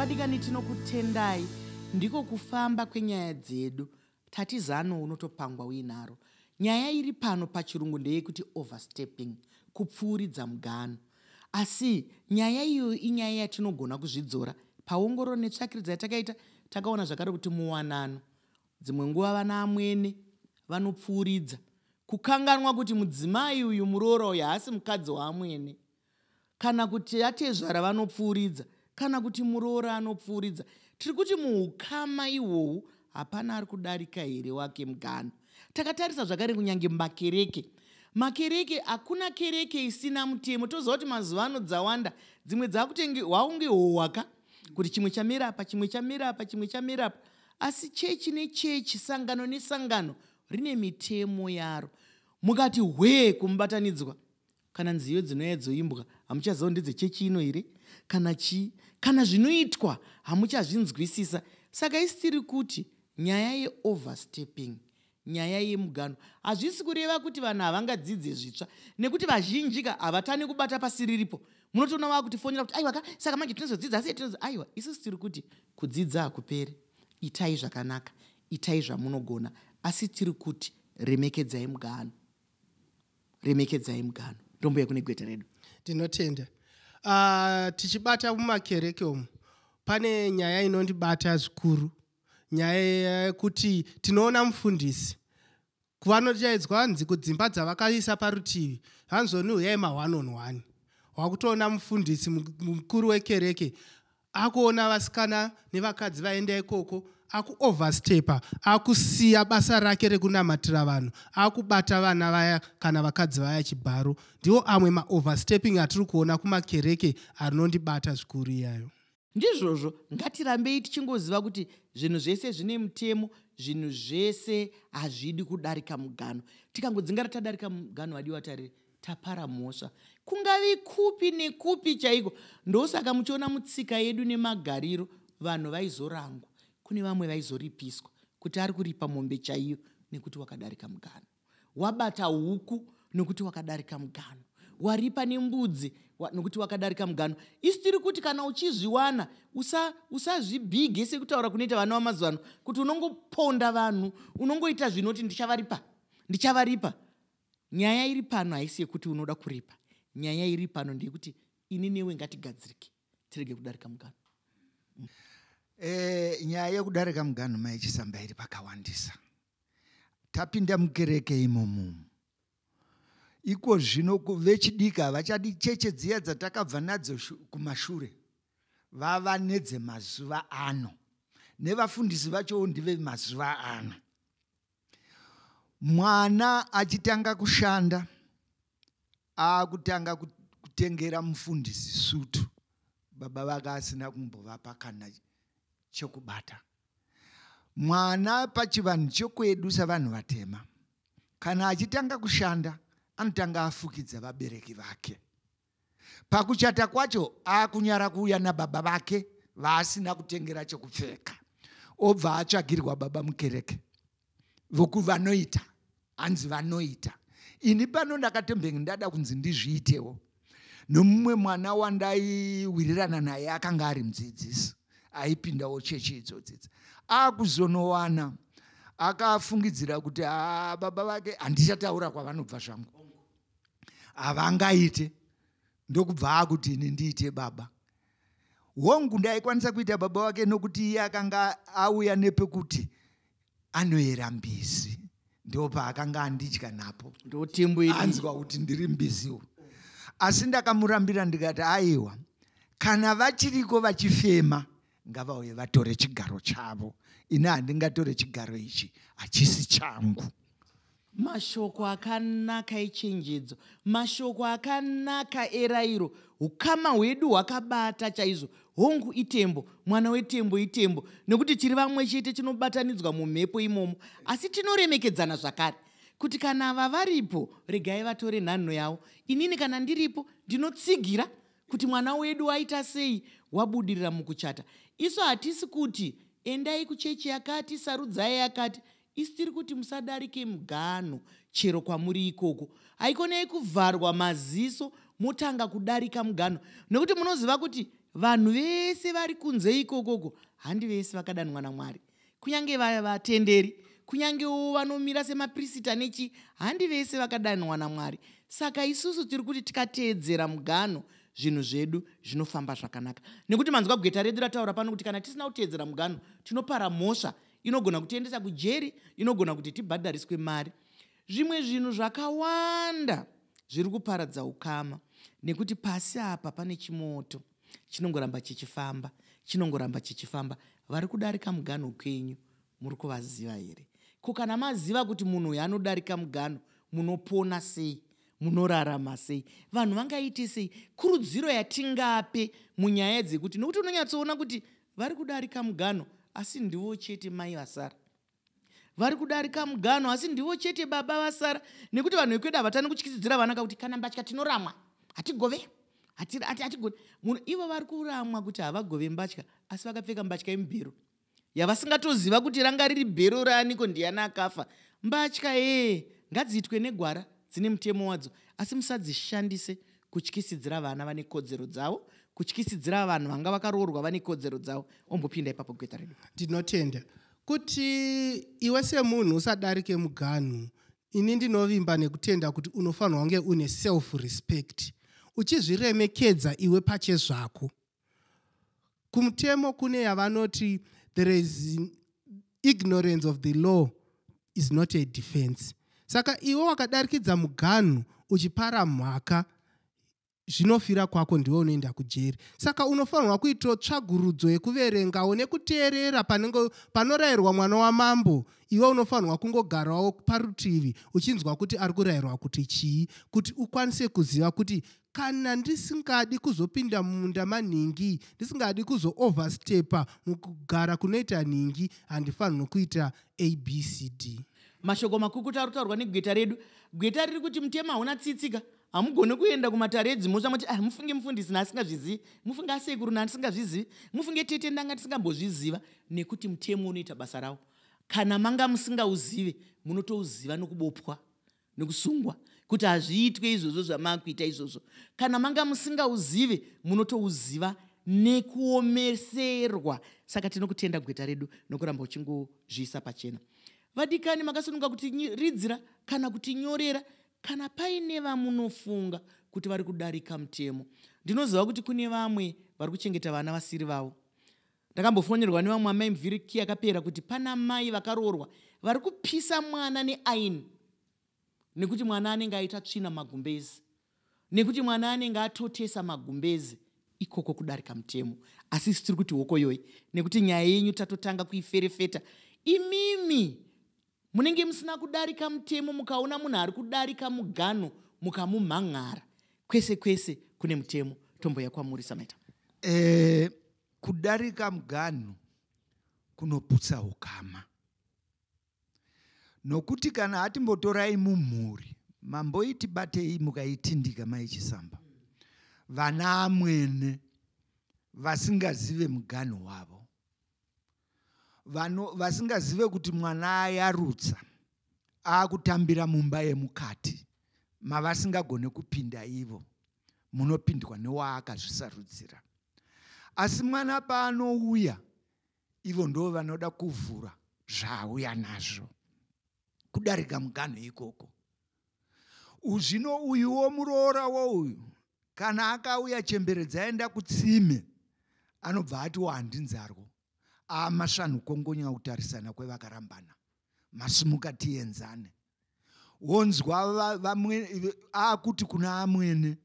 vadikani tinokutendai ndiko kufamba kwenyaya dzedu tati zano unotopangwa uinaro nyaya iri pano pachirungu ndeyekuti overstepping kupfuuridza mugano asi nyaya iyoyo inyaya yatinogona kuzvidzora paongororo netsvakiridza yatakaita takaona zvakare kuti muwanano Dzimwe nguva vana amwene vanopfuuridza kukanganwa kuti mudzimai uyu muroora uyu haasi mukadzi waamwene kana kuti atezvara vanopfuuridza kana kuti muroora anopfuuridza tiri kuti muukama ihwohwu hapana ari kudarika here wake mugano takatarisa zvakare kunyange makereke makereke hakuna kereke isina mutemo toziva kuti mazuva ano dzawanda dzimwe dzakutenge hwaunge hwohwaka kuti chimwe chamira apa chimwe chamira apa chimwe chamira apa asi chechi nechechi sangano nesangano rine mitemo yaro mukati hwee kumubatanidzwa kana nziyo dzinouya dzoimbwa hamuchaziva ndedzechechi ino here kana chii kana zvinoitwa hamuchazvinzwisisa saka isitiri kuti nyaya yeoverstepping Nyaya yemuganhu hazvisi kureva kuti vanhu havangadzidze zvitsva nekuti vazhinjika havatani kubata pasi riripo munotoona vaakutifonera kuti aiwa ka saka manje tinozodzidza asi tinozo aiwa isusu tiri kuti kudzidza hakuperi itai zvakanaka itai zvamunogona asi tiri kuti remekedzai muganhu remekedzai muganhu ndombuya kune gweta redu tinotenda uh, tichibata mumakereke umu pane nyaya inondibata zvikuru nyaya yekuti tinoona mufundisi vanotaidzwa hanzi kudzimba dzavakaisa parutivi hanzoni huyai ma-one on one wakutoona mufundisi mukuru wekereke akuona vasikana nevakadzi vaenda ikoko akuoverstepa akusiya basa rake rekunamatira vanhu akubata vana vaya kana vakadzi vaya chibharo ndiwo amwe maoversteping atiri kuona kumakereke anondibata zvikuru iyayo Ndizvozvo ngatirambei tichingoziva kuti zvinhu zvese zvine mutemo, zvinhu zvese hazvidi kudarika mugano. Tikangodzingara tadarika mugano wadiwa tari tapara mhosva. Kungavi kupi nekupi chaiko. Ndosaka muchiona mutsika yedu nemagariro vanhu vaizorangwa. Kune vamwe vaizoripiswa kuti ari kuripa mombe chaiyo nekuti wakadarika mugano. wabata huku nokuti wakadarika mugano waripa nembudzi nokuti wakadarika mugano isu tiri kuti kana uchizviwana usazvibhige usa sekutaura kunoita vana vamazuva ano kuti unongoponda vanhu unongoita zvinoti ndichavaripa ndichavaripa nyaya iri pano haisi yekuti unoda kuripa nyaya iri pano ndeyekuti ini newe ngatigadzirike tirege kudarika mugano mm. e, nyaya yekudarika mugano maichisamba iri pakawandisa tapinda mukereke imomo iko zvino vechidiki havachadi cheche dziya dzatakabva nadzo kumashure vava nedzemazuva ano nevafundisi vachowo ndive mazuva ano mwana achitanga kushanda akutanga kutengera mufundisi sutu baba vake asina kumbovapa kana chekubata mwana pachivanhu chekwedu savanhu vatema kana achitanga kushanda anotanga afukidza vabereki vake pakuchata kwacho akunyara kuuya nababa vake vaasina kutengera chekupfeka obva atsvagirwa baba mukereke voku vanoita hanzi vanoita ini pano ndakatombenge ndada kunzi ndizviitewo nomumwe mwana wandaiwirirana naye akanga ari mudzidzisi aipindawo chechi idzodzidza akuzonowana akafungidzira kuti ah, baba vake handichataura kwavanobva zvangu havangaite ndokubva akuti ini ndiite baba hongu ndaikwanisa kuita baba wake nokuti iye akanga auya nepekuti anoyera mbizi ndo paakanga andidya napo anzwa kuti ndiri mbiziwo asi ndakamurambira ndikati aiwa kana vachiriko vachifema ngavauye vatore chigaro chavo ini handingatore chigaro ichi hachisi changu mashoko akanaka echenjedzo mashoko akanaka erairo ukama hwedu hwakabata chaizvo hongu itembo mwana wetembo itembo nekuti tiri vamwe chete tinobatanidzwa mumhepo imomo asi tinoremekedzana zvakare kuti kana ava varipo regai vatore nhanho yavo inini kana ndiripo ndinotsigira kuti mwana wedu waita sei wabudirira mukuchata isu hatisi kuti endai kuchechi yakati sarudzai yakati Isu tiri kuti musadarike muganho chero kwamuri ikoko. Haikonei kuvharwa maziso motanga kudarika muganho nekuti munoziva kuti vanhu vese vari kunze ikokoko handi vese vakadanwa naMwari. Kunyange vaya vatenderi kunyangewo vanomira semaprisita nechi handi vese vakadanwa naMwari. Saka isusu tiri kuti tikateedzera muganho zvinhu zvedu zvinofamba zvakanaka nekuti manzwa gweta redu rataura pano kuti kana tisina kuteedzera muganho tinopara mhosva inogona kutiendesa kujeri inogona kuti tibhadhariswe mari zvimwe zvinhu zvakawanda zviri kuparadza ukama nekuti pasi apa pane chimoto chinongoramba chichifamba chinongoramba chichifamba vari kudarika muganho kwenyu muri kuvaziva here ko kana maziva kuti munhu uyo anodarika muganho munopona sei munorarama sei vanhu vangaite sei kurudziro yatingape munyaya dzekuti nokuti unonyatsoona kuti vari kudarika mugano asi ndivo chete mai vasara vari kudarika mugano asi ndivo chete baba vasara nekuti vanhu vekwedu havatani kutyisidzira vana kakuti kana mbatya tinoramwa hatigove hatigone munhu ivo vari kuramwa kuti havagove mbatya asi vakapfeka mbatya yemubhero yavasingatoziva kuti ranga riri bhero raaniko ndiyana akafa mbatya ee ngadziitwe negwara dzine mutemo wadzo asi musadzishandise kutyisidzira vana vane kodzero dzavo kutyisidzira vanhu vanga vakaroorwa vane kodzero dzavo ombopinda ipapo gweta redu ndinotenda kuti iwe semunhu usadarike muganhu ini ndinovimba nekutenda kuti unofanirwa kunge une self respect uchizviremekedza iwe pachezvako kumutemo kune yavanoti there is ignorance of the law is not a defense saka iwe wakadarikidza muganhu uchipara mhaka zvinofira kwako ndiwe unoenda kujeri saka unofanirwa kuitawo tsvagurudzo yekuverengawo nekuteerera panenge panorayirwa mwana wamambo iwe unofanirwa kungogarawo parutivi uchinzwa kuti ari kurayirwa kuti chii kuti ukwanise kuziva kuti kana ndisingadi kuzopinda mumunda manhingi ndisingadi kuzooverstepa mukugara kunoita nhingi handifanirwi kuita abcd mashoko makukuta ari kutaurwa negweta redu gweta riri kuti mutemo hauna tsitsika hamugone kuenda kumatare edzimhosva moti ah, mufunge mufundisi naasingazvizivi mufunge asekuru naasingazvizivi mufunge tete ndanga ndisingambozviziva nekuti mutemo unoita basa rawo kana manga musingauzive munotouziva nokubopwa nekusungwa kuti hazviitwe izvozvo zvamakuita izvozvo kana manga musingauzive munotouziva nekuomeserwa saka tinokutenda gweta redu nokuramba uchingozviisa pachena vadikani makasununga kuti ridzira kana kuti nyorera kana paine vamunofunga kuti vari kudarika mutemo ndinoziva kuti kune vamwe vari kuchengeta vana vasiri vavo Ndakambofonerwa nevamwe amai mvhiriki yakapera kuti pana mai vakaroorwa vari kupisa mwana neaini nekuti mwana anenge aita tsvina magumbezi nekuti mwana anenge atotesa magumbezi ikoko kudarika mutemo asi isu tiri kuti hokoyoyi nekuti nyaya yenyu tatotanga kuiferefeta imimi Munenge musina kudarika mutemo mukaona munhu ari kudarika muganho mukamumhan'ara. Kwese kwese kune mutemo. Tomboya kwamuri Sameta. Eh, kudarika muganho kunoputsa ukama. Nokuti kana atimbotorai mumhuri mamboiti batei mukaitindika maichisamba vana amwene vasingazive muganho wavo vano vasingazive kuti mwana ayarutsa akutambira mumba yemukati mavasingagone kupinda ivo munopindwa newaakazvisarudzira asi mwana paanouya ivo ndo vanoda kuvhura zvaauya nazvo kudarika muganhu ikoko uzvino uyuwo muroora wouyu kana akauya chembere dzaenda kutsime anobva ati wahandi nzarwo amasvanhu kongonya kutarisana kwevakarambana masimuka tienzane wonzwa vamwe akuti kuna amwene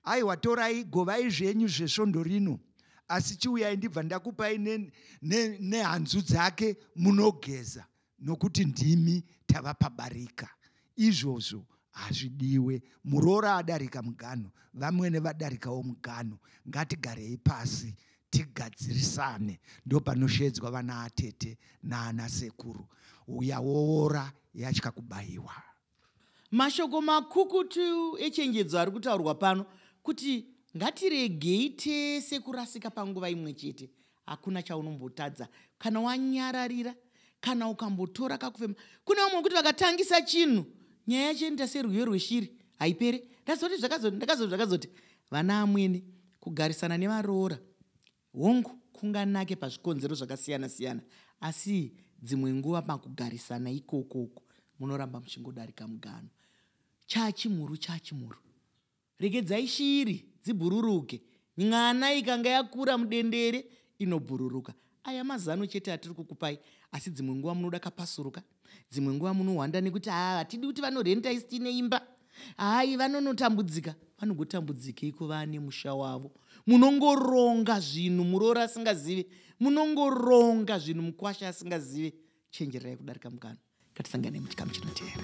aiwa torai govai zvenyu zvesvondo rino asi chiuyai ndibva ndakupai nehanzu ne, ne dzake munogeza nokuti ndimi tava pabarika izvozvo hazvidiwe muroora adarika muganho vamwene vadarikawo muganho ngatigarei pasi tigadzirisane ndopanoshedzwa vana atete naana sekuru uya woora yatya kubayiwa Mashoko makukutu echenjedzo ari kutaurwa pano kuti ngatiregei tese kurasika panguva imwe chete hakuna chaunombotadza kana wanyararira kana ukambotora kakufema kune vamwe vekuti vakatangisa chinhu nyaya yacho inoita serwiyo rweshiri haipere ndazoti zvakazoti ndakazoti zvakazoti vana amwene kugarisana nevaroora Hongu, kunganake pazvikonzero zvakasiyana-siyana, asi dzimwe nguva pakugarisana ikoko uko munoramba muchingodarika mugano. Chachimhuru, chachimhuru. Regedzai shiri dzibhururuke. N'ana ikanga yakura mudendere inobhururuka. Aya mazano chete atiri kukupai, asi dzimwe nguva munoda kapasuruka. dzimwe nguva munohwanda nekuti haa hatidi kuti vanorenta isi tiine imba hayi vanonotambudzika vanogotambudzikei kuva nemusha wavo munongoronga zvinhu muroora asingazive munongoronga zvinhu mukwasha asingazive chenjererai kudarika mukana ngatisangane muchikamu chinoteera